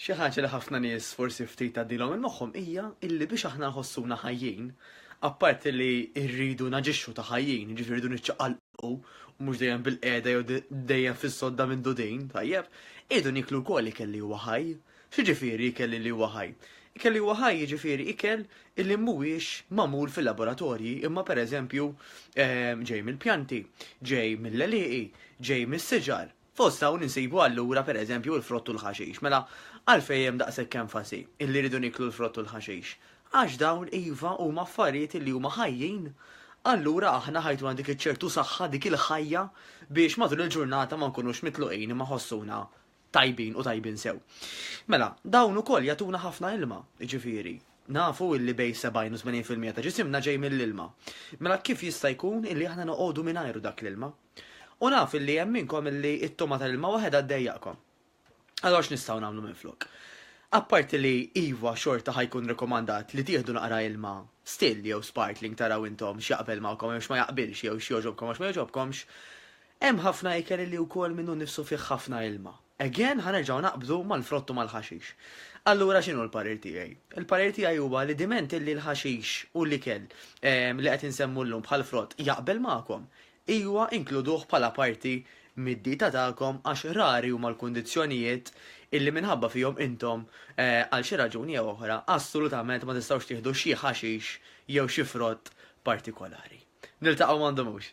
Xi ħaġa li ħafna nies forsi ftit tgħaddilhom minn moħħhom hija illi biex aħna nħossuna ħajjin, apparti li rridu naġixxu ta' ħajjin, jiġifieri rridu niċċaqalqu u mhux dejjem bil-qiegħda jew dejjem fis-sodda minn dudin, tajjeb, irridu niklu wkoll ikel li huwa ħaj. X'jiġifieri ikel li huwa ħaj? Ikel li huwa ħaj jiġifieri ikel li mhuwiex magħmul fil-laboratorji imma pereżempju ehm, ġej mill-pjanti, ġej mill-leliqi, ġej mis-siġar, Fost dawn insibu allura pereżempju l-frott u l-ħaxix. Mela, għalfejn hemm daqshekk enfasi illi rridu nieklu l-frott u l-ħaxix? Għax dawn, iva, huma affarijiet illi huma ħajjin. Allura aħna ħa jtuna dik iċ-ċertu saħħa, dik il-ħajja biex matul il-ġurnata ma nkunux mitluqin imma ħossuna tajbin u tajbin sew. Mela, dawn ukoll jagħtuna ħafna ilma, jiġifieri, nafu illi bejn 70 u 80 fil-mija ta' ġisimna ġej mill-ilma. Mela kif jista' jkun illi aħna noqogħdu mingħajru dak l-ilma? U naf illi hemm minnkom illi t-togħma tal-ilma waħedha ddejjaqkom. Allura x'nistgħu nagħmlu minflok? Apparti li iva xorta ħa jkun rekomandat li tieħdu naqra ilma still jew sparkling taraw intom x'jaqbel magħkom jew x'ma jaqbilx jew x'jogħġobkom għax ma jogħġobkomx, hemm ħafna ikel illi wkoll minnu nnifsu fih ħafna ilma. Again ħa nerġgħu naqbdu mal-frott u mal-ħaxix. Allura x'inhu l-parir tiegħi? Il-parir tiegħi huwa li diment illi l-ħaxix u l-ikel li qed insemmu llum bħal frott jaqbel magħkom, ijwa inkluduh bħala parti mid-dieta tagħkom għax rari huma l-kundizzjonijiet illi minħabba fihom intom għal xi raġuni jew oħra assolutament ma tistgħux tieħdu xi ħaxix jew xi frott partikolari. Niltaqgħu m'għandhomux.